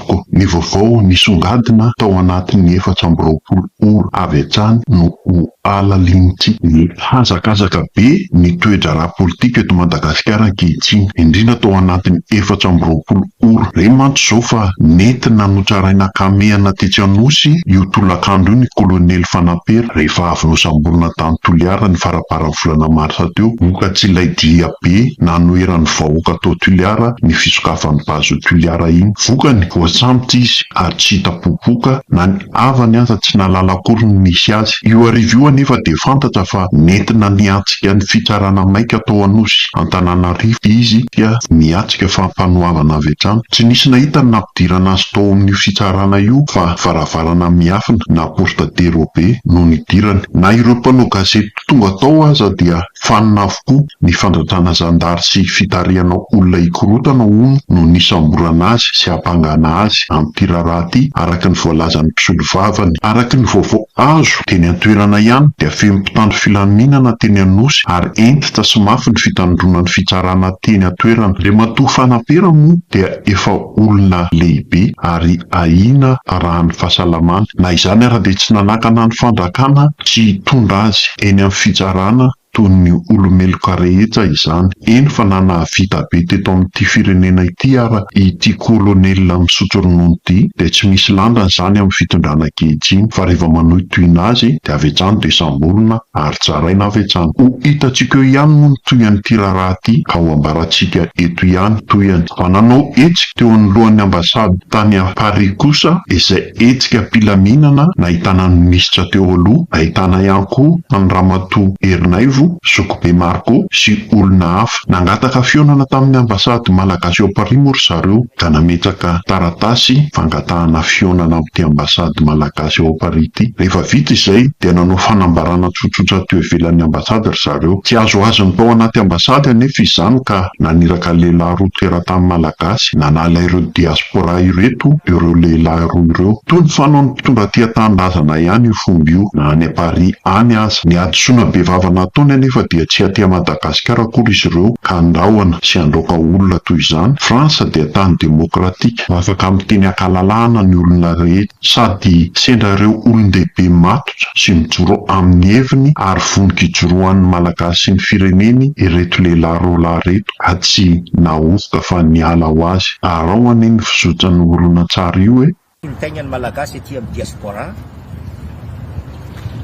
tompoko. Ny vaovao nisongadina tao anatin'ny efatra amby roapolo ora avy hatrany no ho halalinintsika. Mihazakazaka be ny toe-draharaha politika eto Madagasikara ankehitriny, indrindra tao anatin'ny efatra amby roapolo ora. Re mantsy izao fa nentina notraraina an-kamehana tetsy Anosy io tolakandro io ny kolonely Fanampera rehefa avy nosamborina tany Toliara ny faraparan'ny volana marsa teo vokatry ilay dia be nanoheran'ny vahoaka tao Toliara ny fisokafan'ny Base Toliara iny. Vokany, voasambotra izy ary tsy hita popoka, na ny havany aza tsy nahalala akory ny nisy azy. Io hariva io anefa dia fantatra fa nentina niatrika ny fitsarana maika tao Anosy, Antananarivo, izy ka niatrika fampanoavana avy hatrany. Tsy nisy nahita ny nampidirana azy tao amin'io fitsarana io fa varavarana miafina na porte de robe no nidirany. Na ireo mpanao gazety tonga tao aza dia Fanina avokoa ny fandratrana zandary sy fitarihana olona hikorotana hono no nisamborana azy sy hampangana azy amin'ity raharaha ity araka ny voalazan'ny mpisolovavany. Araka ny vaovao azo teny an-toerana ihany dia feno mpitandro filaminana teny Anosy ary hentitra sy mafy ny fitandroana ny fitsarana teny an-toerana. Andriamatoa Fanapera moa dia efa olona lehibe ary ahiana raha ny fahasalamany. Na izany ara dia tsy nanakana ny fandrakana tsy hitondra azy eny amin'ny fitsarana toy ny olomeloka rehetra izany. Eny fa na nahavita be teto amin'ity firenena ity ara ity kolonelina misotro ronono ity dia tsy misy lanjany izany amin'ny fitondrana ankehitriny fa rehefa manohitohina azy dia avy hatrany dia samborina ary tsaraina avy hatrany. Ho hitantsika eo ihany moa ny tohin'ity raharaha ity ao ambarantsika eto ihany tohiny. Fa nanao hetsika teo anoloan'ny ambasady tany Paris kosa izay hetsika am-pilaminana nahitana ny minisitra teo aloha, nahitana ihany koa an'i Ramatoa Ernaivo, Zokibe Marco sy olona hafa. Nangataka fihaonana tamin'ny ambasady malagasy ao Paris moa ry zareo ka nametraka taratasy fangatahana fihaonana amin'ity ambasady malagasy. gasy ao Paris ity. Rehefa vita izay dia nanao fanambarana tsotsotra teo ivelan'ny ambasady ry zareo. Tsy azo azy ny tao anaty ambasady anefa izany ka naniraka lehilahy roa teratany malagasy nanala ireo diaspora ireto ireo lehilahy roa ireo. Toa ny fanaon'ny mpitondra tia tanindrazana ihany io fomba io na any Paris any aza. Ny hadisoana bevava nataony anefa dia tsy aty Madagasikara akory izy ireo ka andrahona sy andraoka olona toy izany. France dia tany demokratika. Afaka miteny ankalalahana ny olona rehetra. Sady sendra ireo olon-dehibe matotra sy mijoro amin'ny heviny ary voniko hijoroan'ny Malagasy sy ny fireneny ireto lehilahy roa lahy ireto a Tsy nahovoka fa niala ho azy Arao anie ny fizotran'io horonantsary io e! Ny taignan'ny Malagasy aty amin'ny Diaspora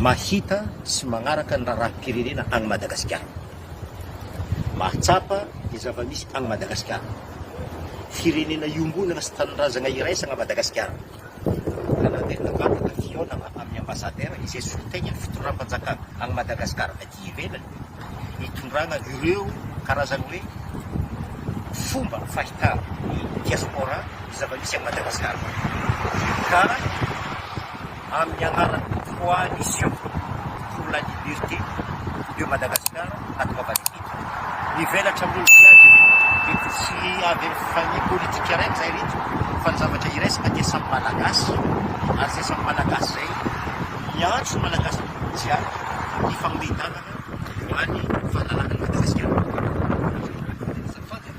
mahita sy magnaraka ny raharaham-pirenena any Madagasikara. Mahatsapa ny zava-misy any Madagasikara. Firenena iombonana sy tanindrazagna iraisagna Madagasikara. Ka naverina vantana ny fihaonagna amin'ny Ambassadeur izay solontenan'ny fitondram-panjakana any Madagasikara aty ivelany hitondragna ireo karazany hoe fomba fahitan'ny diaspora ny zava-misy any Madagasikara. Ka. amin'ny anaran'ny Coalition pour la Liberté de Madagascar ato Mavanipitso. Mivelatra ambony viady io. Mety tsy avy amin'ny famille politique araiky izay ry ireto fa ny zavatra iraisana dia samy Malagasy ary izay samy Malagasy izay miantso ny Malagasy jiaby hifanome tanana ho an'ny fahalalan'i Madagasikara.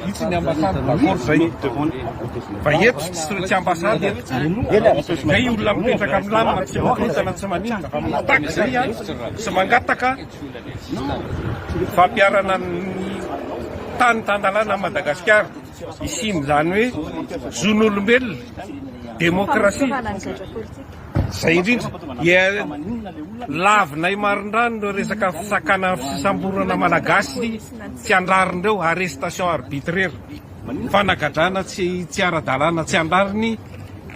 Vitsy ny ambassade d'accord zay no demande fa eto tsy tsy ambassade eto zay olona mipetraka am lamina tsy maninona tsy maninona fa mitaky zay an sy mangataka fampiharana ny tany tan-dalàna am Madagasikara hisian'izany hoe zon'olombelona demokrasia Izay indrindra, lavinay marindrano ireo resaka fisakana ny fisamborana Malagasy tsy an-drariny ireo, arrestation arbitraire, fanagadrana tsy ara-dalàna tsy an-drariny,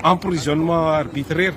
emprisonnement arbitraire.